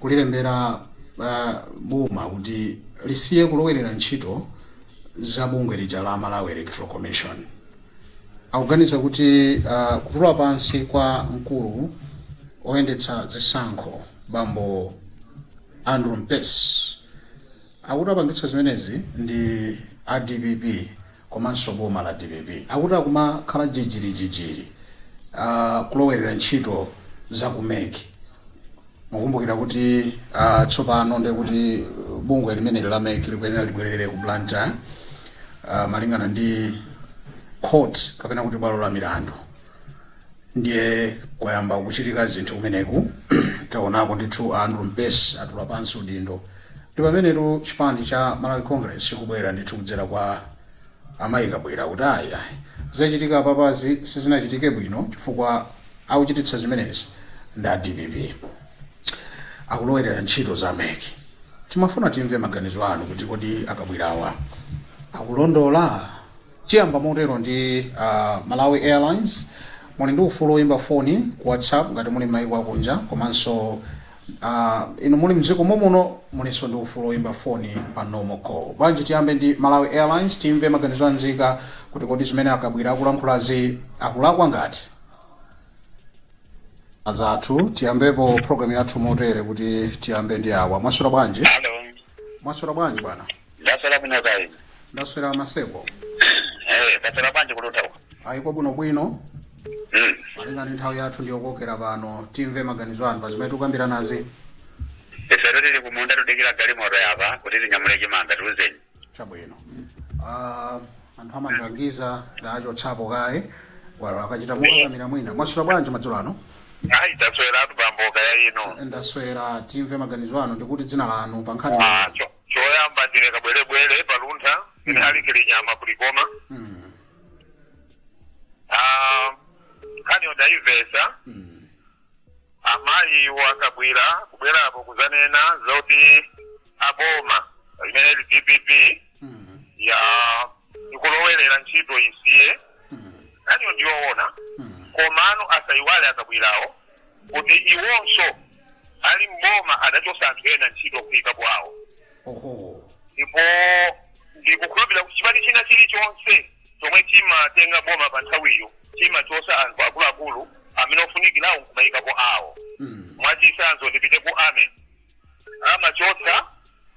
kulilembera boma kuti lisiye kulowerera ntchito za bungwe lija la Malawi Electoral Commission. Akuganiza kuti kutula pansi kwa mkulu oyendetsa zisankho bambo Andrew Mpesi akuti apangitsa zimenezi ndi a DPP. komanso boma la DPP akuti akumakhala jijirijijiri kulowerera ntchito za ku MEC mukumbukira kuti uh, tsopano ndiye kuti bungwe limeneli la MEC likuyenera libwerere ku Blantyre uh, malingana ndi court kapena kuti bwalo la milandu ndiye kwayamba kuchitika zinthu kumeneku taonako ndithu a Andrew Mpesi atula pansi udindo ndi pamenetu chipani cha Malawi Congress chikubwera ndithu kudzera kwa amayi Kabwira kuti ayi ayi zachitika apapazi sizinachitike bwino chifukwa akuchititsa zimenezi ndi a DPP akulowerera ntchito za MEC timafuna timve maganizo anu kuti kodi a Kabwirawa akulondola Tiyamba motero ndi a Malawi Airlines, muli ndi ufulu woimba foni ku WhatsApp ngati muli m'maiko akunja komanso inu muli m'dziko momuno mulinso ndi ufulu woimba foni pa normal call. Bwanji tiyambe ndi Malawi Airlines timve maganizo a nzika kuti kodi zimene a Kabwira akulankhulazi akulakwa kapena? Anzathu tiyambepo program yathu motere kuti tiyambe ndi awa. Mwaswera bwanji? Hello. Mwaswera bwanji bwana? ndaswera bwino kaya inu ndaswera a Maseko Eh, kwaswera bwanji ku Luntha uko ayi kuno bwinobwino Mm. malinga ndi nthawi yathu ndiyokokera pano timve maganizo anu pa zimene tikukambiranazi ifero tili kumunda tudikira galimoto yapa kuti tinyamule chimanga tiuzeni chabwino Ah, anthu amandilangiza ndachotsapo kaye foniyo akachita mokakamira mwina mwaswera bwanji madzulo ano ayi taswera kaya inu ndaswera timve maganizo anu nditi dzina lanu pa nkhani Ah, cho- choyamba ndine kabwerebwere pa Luntha ine Alick Nyama ku Likoma Mm. Ah, nkhaniyo ndayimvesa Mm. amayiwo a Kabwira kubwerapo kuzanena zoti aboma imene ili DPP Mm. ya ikulowerera ntchito isiye Mm. nkhaniyo ndiyoona Mm. komano asayiwale a Kabwirawo kuti iwonso ali m'boma adachosa anthu ena ntchito kuikapo awo oho ndipo ndikukhulupirira kuti chipani china chilichonse chomwe chimatenga boma pa nthawiyo chimachosa anthu akuluakulu amene ofunikirawo nkumayikapo awo mm. mwachitsanzo ndipite ku army amachotsa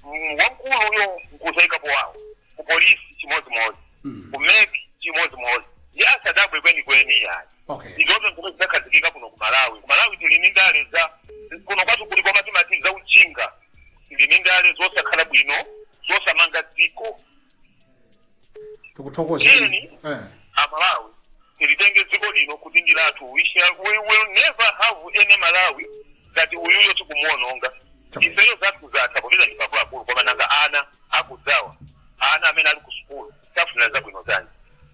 mm, wamkuluyo nkuzaikapo wawo ku polisi chimodzimodzi Mm. ku MEC chimodzimodzi nde asadabwe kwenikweni ayi okay ndizozo zimene zinakhazikika kuno ku malawi ku malawi tili ndi ndale za kuno kwathu kuli koma timati za unjinga tili ndi ndale zosakhala bwino zosamanga dziko tikuthokozeni Tiyeni. eh. amalawi tilitenge dziko lino kuti ndi lathu we, shall, we will never have any malawi ngati uyuyo tikumuononga Chapa. ifeyo zathu zatha popeza ndife akuluakulu koma nanga ana akudzawa ana amene ali ku sukulu siwafunira zabwino zanji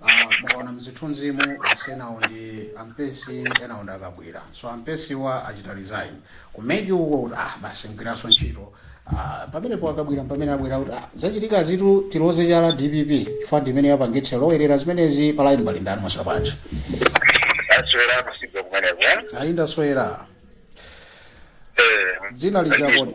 Aaa mukaona mzithunzimu basi enawo ndi ampesi enawo ndi akabwira so ampesiwa achita resign ku mec uko kuti aah basi sindigwiranso ntchito aah pamenepo akabwira mpamene abwera kuti aah zachitikazitu tiloze chala dpp chifukwa ndi imene yapangitsa yalowerera zimenezi pa line pali ndani mwaswera bwanji Aswera kusiga kumeneko. ayi ndaswera Eh. dzina lija kodi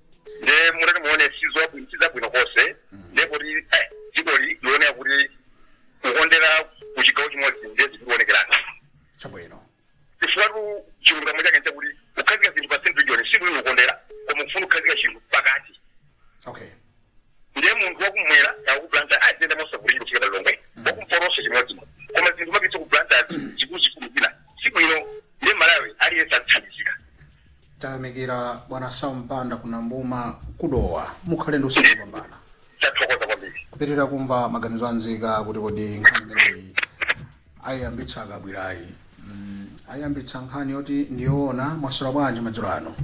nde mutati muone sizwabwino sizabwino konse nde kuti eh, dziko li- lioneka kuti kukondera ku chigawo chimodzi nde zikuonekerana chabwino chifukwa chilungamo chake nchakuti kukhazika zinthu pa central region sikuli kukondera koma kufuna kukhazika chinthu pakati okay ndiye munthu wakumwera aku Blantyre aziyenda mosavulira kufika pa lilongwe wakumpotonso chimodzi koma zinthu kumapititsa ku Blantyre zikulu zikulu zina sibwino ndiye malawi aliyense athandizika Tayamikira bwana Sam Banda ku Nambuma ku Dowa. Mukhale ndi usiku wopambana. Tathokoza kwambiri. Kupitirira kumva maganizo a nzika kuti kodi nkhani imeneyi ayiyambitsa akabwirayi. Mm, ayiyambitsa nkhani yoti ndiyoona mwaswera bwanji madzulo ano.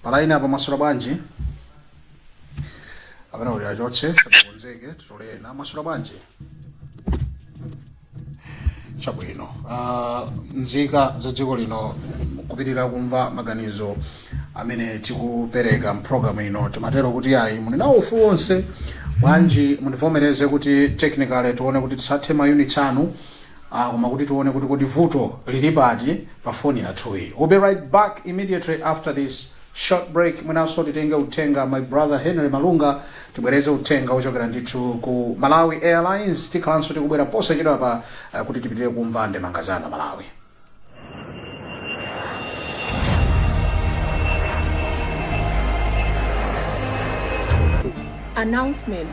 Palaini apa mwaswera bwanji? Apana kuti achotse sabakonzeke titolena mwaswera bwanji? chabwino uh, nzika za dziko lino kupitirira kumva maganizo amene tikupereka mpulogalamu ino timatero kuti ayi muli nawo ufulu wonse bwanji mundivomereze kuti technically tione kuti tisathe mayunitsi anu ah, koma kuti tione kuti kodi vuto lili pati pa foni yathuyi we'll be right back immediately after this short break mwinanso titenge uthenga my brother Henry Malunga tibwereze uthenga wochokera ndithu ku Malawi Airlines tikhalanso tikubwera posachedwapa uh, kuti tipitirire kumva ndemanga zanu Malawi announcement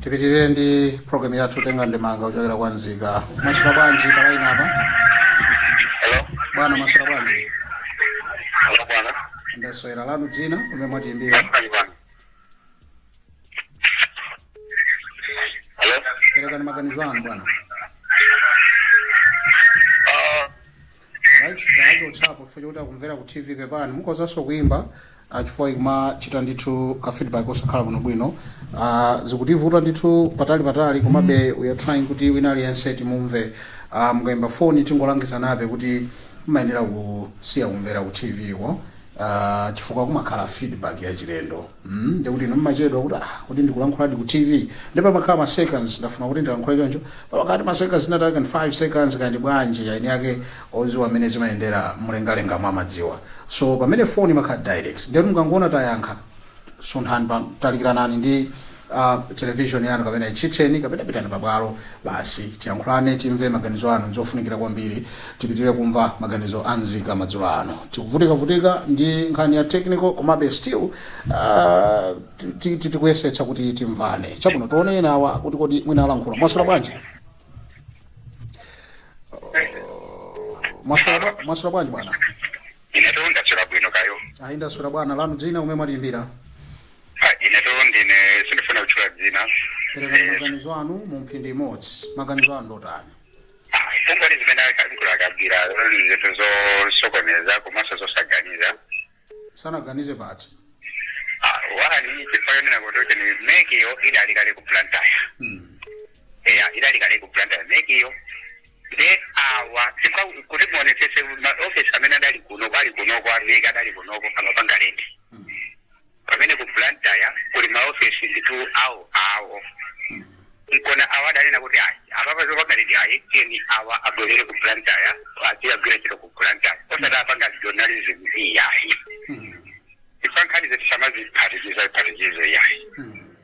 tipitirire ndi programu yathu kutenga ndemanga kuchokera kwa nzika mwaswera bwanji palaini apa Hello. bwana mwaswera bwanji Hello bwana. ndaswera lanu dzina kumene mwatiimbira Ndakukani bwana. Hello. perekani maganizo anu bwana Ah, Right, tachotsapo chifukwa chokuti akumvera ku TV pepani. Mukhozanso kuimba ah, chifukwa ikumachita ndithu ka feedback osakhala bwino bwino. Ah, zikutivuta ndithu patali patali komabe we are trying kuti wina aliyense timumve. Ah, mukaimba phone tingolangizanabe kuti mumayenera kusiya kumvera ku TV ko. Ah, chifukwa kumakhala feedback yachilendo. mm nde kuti inu mumachedwa kuti ah kuti ndikulankhuladi ku tv nde pamakhala ma seconds ndafuna kuti ndilankhule choncho pamakhala ma seconds zinatake kaya 5 seconds kaya ndi bwanji eni ake oziwa mmene zimayendera mlengalenga amadziwa so pamene phone imakhala direct nde mukangoona tayankha sunthani pa talikiranani ndi uh, television yanu kapena ithimitseni kapena pitani pabwalo Basi tiyankhulane timve maganizo anu ndzofunikira kwambiri tipitilire kumva maganizo a nzika madzulo ano. Tikuvutika vutika ndi nkhani ya technical komabe still uh, ti- ti- tikuyesetsa kuti timvane. Chabwino tione ena awa kuti kodi mwina alankhula. Mwaswera bwanji? Mwaswera bwa- mwaswera bwanji bwana? inetu ndaswera bwino kaya. Eya ndaswera bwana lanu dzina komwe mwatiimbira. Ha, inetu ndine sindifuna kutchula dzina perekani Eh, maganizo anu mu mphindi imodzi maganizo anu ndotani kumbali zimene alankhula a Kabwila zinthu zosokoneza komanso zosaganiza sanaganize pati Ah, one chifukwa yonena kuti kuti MEC-yo idali kale ku Blantyre mm. eya idali kale ku Blantyre MEC-yo nde awa chifukwa kuti muonetsetse maofesi amene adali kunoko ali kunoko a MEC adali kunoko amapanga renti Pamene ku Blantyre kuli ma office ndithu awo awo nkuona awo adanena kuti ayi apapa zopanga renti ayi tiyeni awa abwerere ku Blantyre adzikagwira ntchito ku Blantyre osati apanga regionalism iyayi. Chifukwa nkhanizo tisamaziphatikiza phatikize iyayi.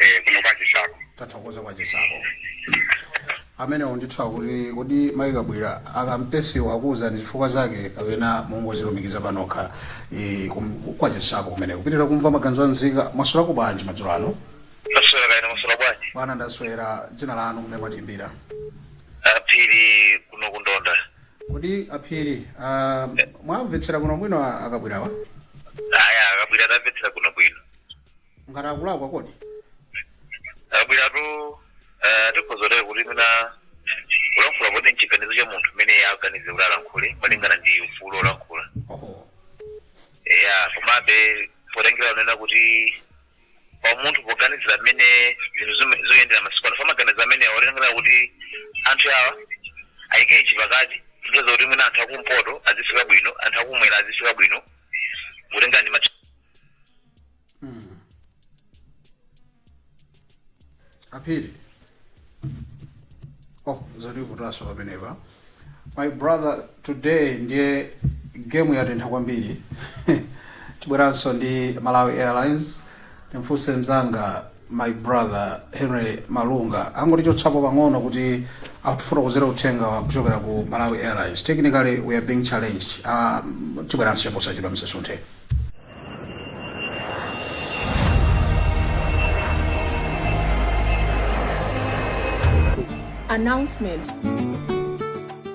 eh, kuno kwa Nchisako tathokoza kwa Nchisako amenewo ndithu akuti kodi mayi Kabwila a Campsewa akuuzani chifukwa zake kapena mwangozilumikiza panokha eh, kum- kwa Nchisako kumeneko tipitilire kumva maganizo a nzika mwaswerako bwanji madzulo ano ndaswera kaya mwaswera bwanji bwana ndaswera dzina lanu kumene mwatiimbira a Phiri kuno ku Ntonda kodi a Phiri ah, mwawamvetserako bwinobwino a- a Kabwilawa eya a Kabwila ndamvetserako bwino ngati akulakwa kodi a Kabwilatu tikhoza kutere kuti mwina kulankhula poti nchiganizo cha munthu mmene aganizira kuti alankhule malingana ndi ufulu olankhula oho ya komabe potengera kunena kuti pa munthu poganizira mmene zinthu zime- zoyendera masiku ano timaganiza mwina potengera kuti anthu awa ayike chipakati pofuna kuti mwina anthu akumpoto azifika bwino anthu akumwera azifika bwino kutengera ndi MEC aphiri oh zativutanso pamenepa my brother today ndiye gemu yatentha kwambiri tibweranso ndi malawi airlines timfunse mzanga my brother Henry Malunga angotichotsapo pang'ono kuti atifotokozere uthenga kuchokera ku Malawi Airlines. Technically we are being challenged. Uh, tibweranso posachedwa musasunthe. announcement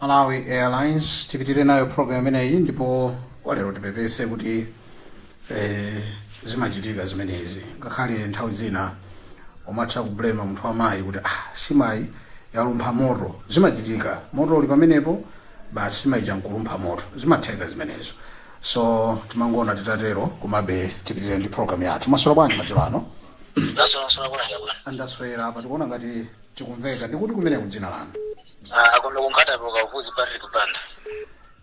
malawi airlines tipitire nayo program imeneyi ndipo kwa lero tipepese kuti eh, zimachitika zimenezi ngakhale nthawi zina umatha kublema munthu wamayi kuti ah, nsima yalumpha moto zimachitika moto uli pamenepo basi nsima ija nkulumpha moto zimatheka zimenezo so timangoona titatero komabe tipitire ndi program yathu maswera bwanji madzulo ano Nasonasona kuna hela bwana. Ah, ndaswera apa tikuona ngati Tikumveka. Ndikuti kumeneko dzina lanu? Ah, kuno ku Nkhata Bay ku Kavuzi Patrick Banda.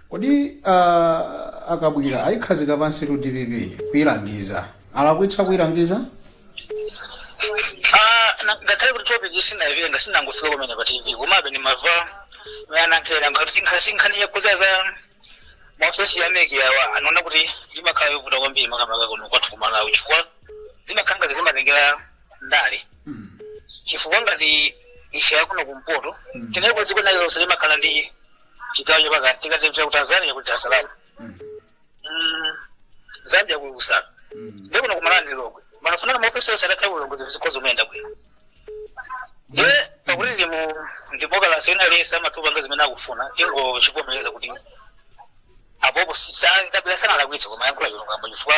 Kodi uh, a Kabwila ayikhazika pansitu DPP kuyilangiza. Alakwitsa kuyilangiza? Ah, na- ngakhale kuti topic sindinayimve ndangofika kumene pa TV komabe ndimamva mayanankhera nkhani yakuza za maofesi a MEC awa ndinaona kuti imakhala yovuta kwambiri makamaka kuno kwathu ku malawi chifukwa zimakhala ngati zimatengera ndale Mm. chifukwa ngati ife akuno kumpoto Mm. tinali kwa dziko lina lililonse limakhala ndi chigawo chapakati tikati tipita ku tanzania ku dar es salaam Mm. Mm, zambia ku lusaka Mm. ndikuno kumalawi ndi lilongwe pamafunika maofesi onse atakhala kulilongwe zinthu zikhoza kumayenda bwino nde pakuti ndi mu demokalase wina aliyense amatha kupanga zimene akufuna tingozivomereza kuti apapa a kabwila sanalakwitsa koma ayankhula chilungamo chifukwa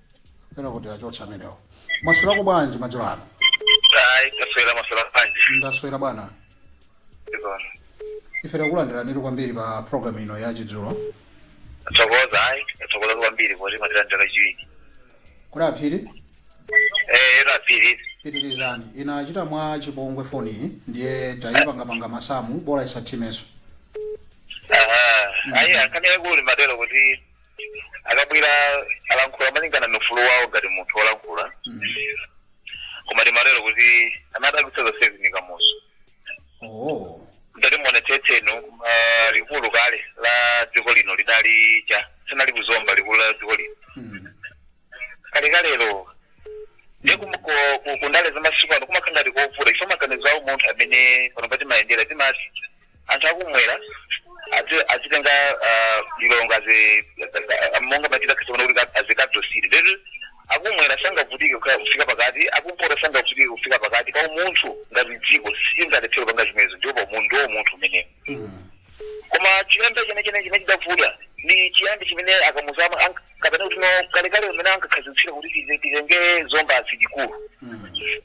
Penapake achotsa amenewo. Mwaswerako bwanji madzulo ano? Ayi, taswera maswera bwanji. Ndaswera bwana. Ndikona. Ife takulandiranitu kwambiri pa program ino ya chidzulo. Thokoza ayi, thokoza kwambiri poti mwatilandira kachiwiri. Kodi aphiri? Eh, a Phiri. Pitirizani. Inachita mwa chipongwe foni iyi ndiye tayipangapanga masamu bola isathimenso. Aha. Ayi, akunena kuti ndimatero kuti a kabwila alankhula malingana ndi ufulu wawo ngati munthu wolankhula koma ndimatero kuti amadabwitsa zonsezi ndi kamuzu oh ndati muonetsetse inu ah, likulu kale la dziko lino lidali cha sinali kuzomba likulu la dziko lino mm. kalekalelo ndiye kum- ko- ku- kundale zamasiku ano kumakhala ngati kovuta chifukwa maganizo awo munthu mmene panopa timayendera timati anthu akumwera azi- azitenga ah, lilongwe azi- ah, monga machita kasona kuti ka- azikadosiri lero akumwera sangavutike kuka- kufika pakati akumpota sangavutike kufika pakati pa umunthu ngati dziko sitingalephere kupanga zimenezo ndipo pa umunthu ndiwo umunthu umenewo koma chiyambi chimene chimene chimene chidavuta ndi chiyambi chimene akamuzu kapena kuti no kalekale umene ankakhazikitsira kuti tize- titenge zomba as likulu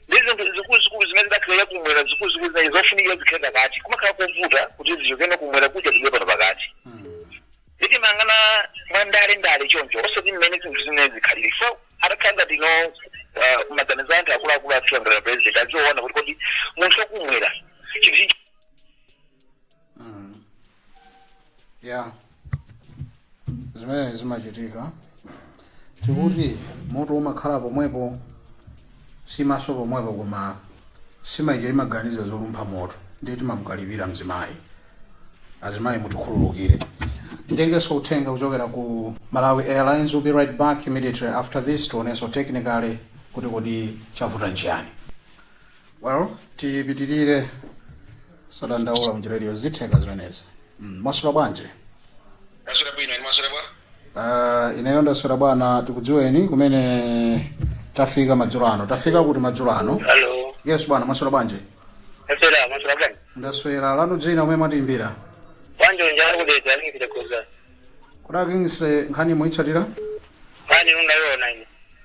ndi zinthu zikuluzikulu zimene zidakhalira kumwera zikuluzikulu zinayi zofunikira zikhale pakati kumakhala kovuta kuti zichokenso kumwera kuja zibwere pano pakati ndiye timangoona mwa ndale ndale choncho osati mmene zinthu zimene zikhalire so atakhala ngati no ah, maganizo anthu akuluakulu athu angakhale president aziona kuti kodi munthu wakumwera chinthu Mm. ya zimene zimachitika tikuti moto umakhala pomwepo nsimanso pomwepo koma nsima ija imaganiza zolumpha moto ndiye timamukalipira mzimayi azimayi mutikhululukire titengenso uthenga kuchokera ku malawi airlines will be right back immediately after this tionenso technically kuti kodi chavuta nchiyani well tipitirire sadandaula mnjira iliyonse zitheka zimenezi mm. mwaswera bwanji Ndaswera bwino mwaswera bwa. uh, ineyo ndaswera bwana tikudziweni kumene tafika madzulo ano tafika kuti madzulo ano Hello. yes bwana mwaswera bwanji Ndaswera mwaswera bwa. ndaswera lanu dzina kumene mwatiimbira Wanjo njalo kudeta ni kile kuza. kudakingise nkhani muitsatira Nkhani nunda yona ni.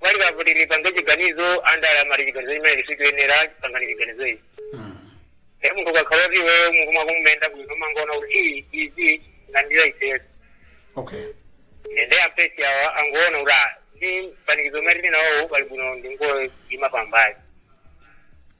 pali pakuti lipange chiganizo andale amati chiganizo chimene lisikuyenera kupanga ndi chiganizo ichi e munthu ukakhala kuti iweyo mutu wako umayenda bwino umangoona kuti iyi izi landira ifeso okay nende ampesi awa angoona kuti ah, ndi mpanikizo umene tili nawowo pali bwino ndingoima pambali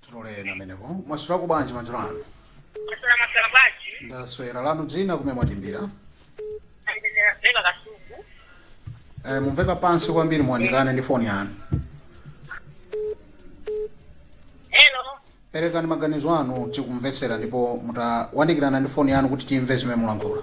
titole ina pamenepo mwaswera bwanji madzulo ano ndaswera mwaswera bwanji ndaswera lanu dzina kumene mwatimbira ndine rabeka kasungu eh, mumveka pansi kwambiri muwandikane ndi foni yanu hello perekani maganizo anu tikumvetsera ndipo mutawandikirana ndi foni yanu kuti timve zimene mulankhula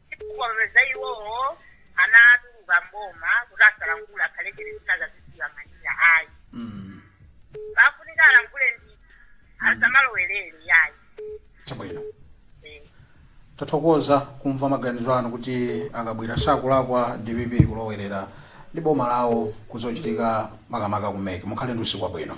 Chifukwa popeza iwowo anatuluka m'boma kuti asalankhule akhale chete zina aziziyang'anira ayi. Mm. Pafunika alankhule ndi asamalowerere yayi. Chabwino. Eh. tathokoza kumva maganizo anu kuti akabwila sakulakwa dpp kulowerera ndi boma lawo kuzochitika makamaka ku mec mukhale ndi usiku wabwino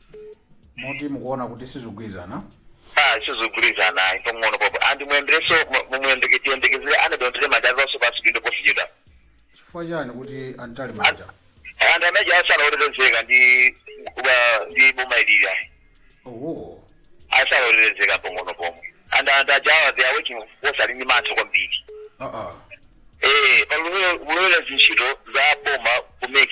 moti mukuona kuti sizigwirizana Ah, sizigwirizana ayi pang'ono pomwe and muyendereso muyembekezere annabel mtalimanja atulenso pansi udindo posachedwa chifukwa chani kuti a mtalimanja anthu amene aja sali otetezeka ndi kuba- ndi boma ilili ayi iwo sali otetezeka pang'ono pomwe and anthu ajawa they are working force ali ndi mantha kwambiri aa eh pakulowerera zintchito za boma ku mec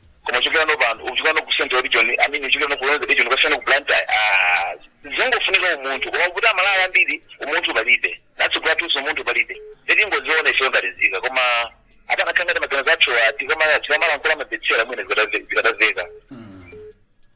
koma uchokera no pano uchokera no ku central region i mean uchokera no ku northern region ukasiyana ku blantyre ah zingofunika umunthu koma kuti amalawi ambiri umunthu palibe ndi atsogoleri athunso umunthu palibe ndiye tingoziona ifeyo ngati nzika koma akadakhala ngati maganizo athu tikamalankhula amamvetsera mwina zikadamveka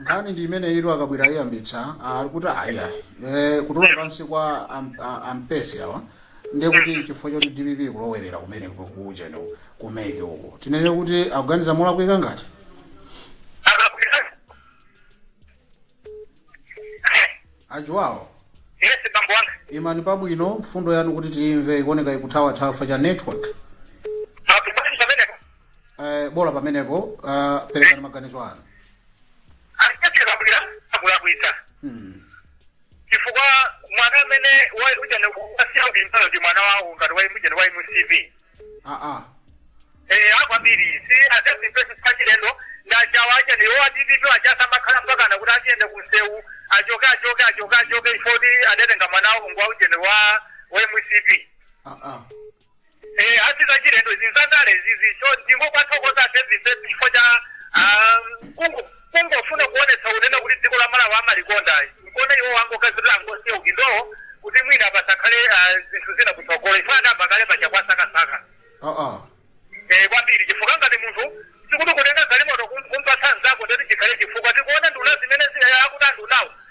nkhani ndi imeneyitu a kabwila ayiyambitsa ali kuti aya eh, kutula pansi kwa am- a- a mpesi awa ndiye kuti nchifukwa choti dpp kulowerera kumene kujeni ku mec uku tinene kuti akuganiza molakwika ngati ajuwawo Yes, bambo wanga. imani pabwino mfundo yanu kuti tiyimve ikuoneka ikuthawathawa chifukwa cha network Eh, bola pamenepo uh, perekani maganizo anu achitira kabwila akulakwitsa mm. chifukwa mwana amene wa- ujana wasiya udindo ndi mwana wawo ngati wa ujana wa mcp ah, ah. eh kwambiri si atazimpeso pachilendo ndachawa achene yo a dpp ayatsa makala mpakana kuti tiyende kumsewu achoke achoke achoke achoke ifoti adatenga mwana wawo ngwa ujeni wa wa mcp ah, ah. Eh, si zachilendo ndi zandale izi so ndingowathokoza david pep chifukwa cha ah, kungo- kungofuna kuonetsa kunena kuti dziko la malawi amalikonda nkone iwo angokazirira angosiya udindowo kuti mwina pasakhale ah, zinthu zina kutsogolo chifukwa adayamba kale paja kuwasakasaka aa Eh, kwambiri chifukwa ngati munthu sikuti kutenga galimoto kum- kumpatsa nzako ndati chikhale chifukwa tikuona nduna zimene zi- eh, akuti andunawo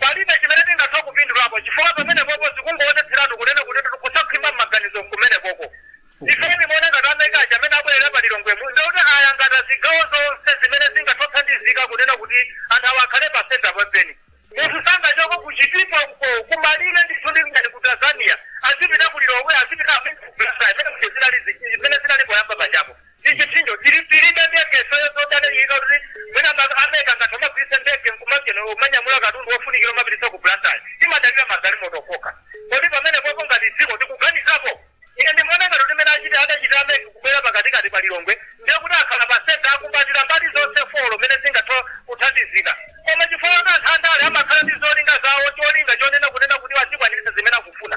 Palibe chimene tingathe kupindulapo chifukwa pamenepopo zikungowonetseratu kunena kutitu kusakhwima mmaganizo nkumenekoko. Ifeyo timaona ngati a MEC aja amene abwelera pa Lilongwemu ndekuti ayangata zigawo zonse zimene zingathe kuthandizika kunena kuti anthu awa akhale pa centre penipeni. Munthu sangachoke ku Chitipa uko kumalire ndithu ndi ngati ku Tanzania azipita ku Lilongwe azipita a MEC ku Blantyre mmene muja zinali zimene zinali poyamba pajapo. ndi chipsinjo tili tilibe ndege ifeyo zodalirika kuti mwina a- a mec ngati amagwiritsa ndege nkumagena umanyamula katundu wofunikira umapititsa ku blantyre timadalira magalimoto okha kodi pamenepopo ngati dziko tikuganizapo ine ndimaona ngati mmene achiti adachitira a mec kubwera pakatikati pa lilongwe ndiye kuti akhala pa senta akumbatira mbali zonse four mmene zingatha kuthandizika koma chifukwa kuti anthu andale amakhala ndi zolinga zawo cholinga chonena kunena kuti azikwaniritsa zimene akufuna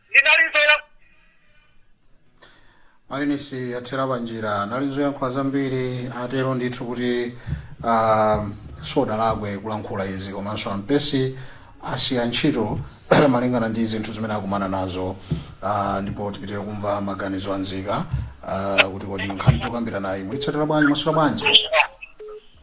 ndinali nzoya mainitsi athera panjira anali n'zoyankhula zambiri atero ndithu kuti ah, sadalakwe kulankhula izi komanso ampesi asiya ntchito malingana ndi zinthu zimene akumana nazo ah, ndipo tipitire kumva maganizo anzika ah, kuti kodi nkhani tikukambiranayi mwitsatira bwanji mwamasulira bwanji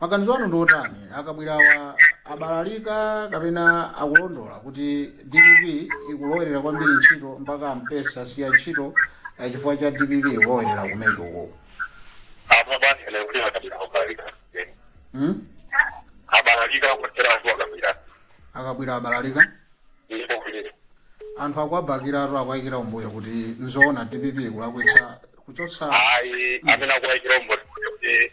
Maganizo anu ndi otani? A Kabwirawa abalalika kapena akulondola kuti dpp ikulowerera kwambiri ntchito mpaka aMpesi asiya ntchito eh, chifukwa cha dpp ikulowerera ku MEC uku? Apa basi lero kuti a Kabwira kubalalika. Hmm? Abalalika kuteratu a Kabwira. Akabwira abalalika? Ndipo kuti anthu akuwabakiratu akuwayikira kumbuyo kuti nzoona dpp ikulakwitsa kuchotsa ayi amene akuwaikira kumbuyo kuti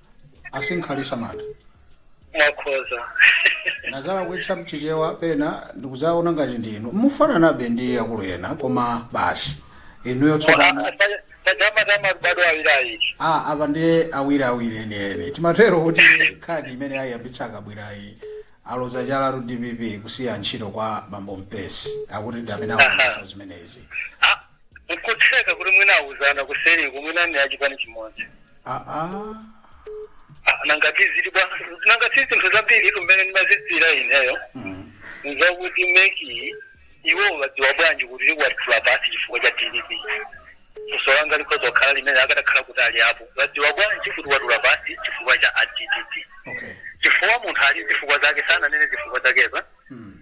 a Sinkhalisha Manda mwakhoza nazala kuyesa m'Chichewa pena ndikuziona ngati ndinu mufananabe ndi akulu ena koma basi inuyo tsopano tajamatama baadaye awiri awiri a apa ndiye awiri awiri enieni timatero kuti nkhani imene ayiyambitsa akabwirayi aloza chalatu dpp kusiya ntchito kwa bambo mpesi akuti ndi amene akuyambitsa zimenezi Nkutheka kuti mwina awuzana kuseriko mwina ni achipani chimodzi. Aa. Ah, Nanga tiziti bwanji nanga si zinthu zambiri tumene ndimazitsira ineyo. Mm. N'zakuti MEC iwo wadziwa bwanji kuti watula pansi chifukwa cha DPP. Funso langa likhoza kukhala limene akadakhala kuti ali apo. Wadziwa bwanji kuti watula pansi chifukwa cha a DPP. Okay. Chifukwa munthu ali n'zifukwa zake sananene zifukwa zakezo. Mm.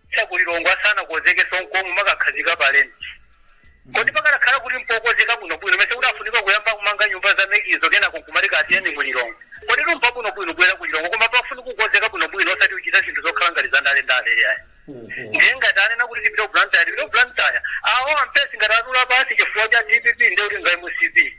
cha ku Lilongwe asanakonzekenso nkomwe kumakakhazika pa rent. Kodi pakadakhala kuti mpokonzeka bwinobwino mesa kudafunika kuyamba kumanga nyumba za MEC-zo kenako nkumati tiyeni ku Lilongwe? Koditu mpabwinobwino kubwera ku Lilongwe koma pafunika kukonzeka bwinobwino osati kuchita zinthu zokhala ngati za ndale-ndale iyayi. Ndiye ngati anena kuti tipite ku Blantyre tipite ku Blantyre. Awo a Mpesi ngati atula pansi chifukwa cha dpp ndiye kuti ndi a mcp.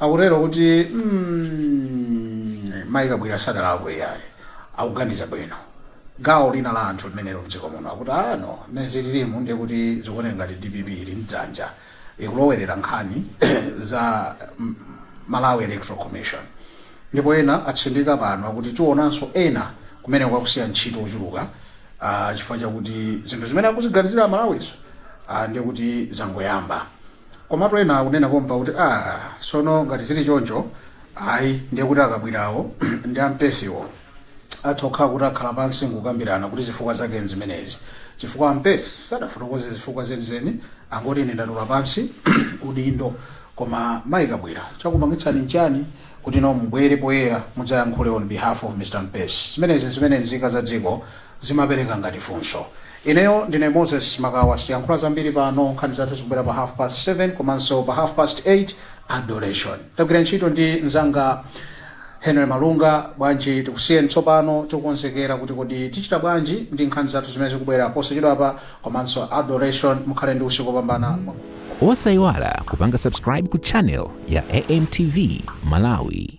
akutero kuti mm, mayi kabwira sadalakwe yayi akuganiza bwino gawo lina la anthu limenelo m'dziko muno akuti mano muzi lilime ndiye kuti zikuoneka ngati dpp ili ndi dzanja ikulowerera nkhani za mm, malawi electoral commission ndipo ena atsindika pano akuti tionanso ena kumene kwakusiya ntchito ochuluka ah, chifukwa chakuti zinthu zimene akuziganizira amalawizo ah, ndiye kuti zangoyamba Komatu ena akunena pompa kuti, Aaa, tsono ngati zili choncho, ayi, ndiye kuti akabwirawo ndi ampesiwo atha kukhala kuti akhala pansi n'kukambirana kuti zifukwa zake n'zimenezi, chifukwa ampesi sadafotokoze zifukwa zenizeni, angoti ine ndatula pansi udindo. Koma Mayi Kabwira, chakupangitsani n'chiyani kuti inu mubwere poyera mudzayankhule on behalf of Mr Mpesi? Zimenezi n'zimene nzika za dziko. zimapereka ngati funso. Ineyo ndine Moses Makawa siyankhula zambiri pano nkhani zathu zikubwera pa half past 7 komanso pa half past 8 Adoration tagwira ntchito ndi nzanga Henry Malunga bwanji tikusiyeni tsopano tikukonzekera kuti kodi tichita bwanji ndi nkhani zathu zimene zikubwera posachedwapa komanso Adoration mukhale ndi usiku wopambana Osaiwala kupanga subscribe ku channel ya AMTV Malawi.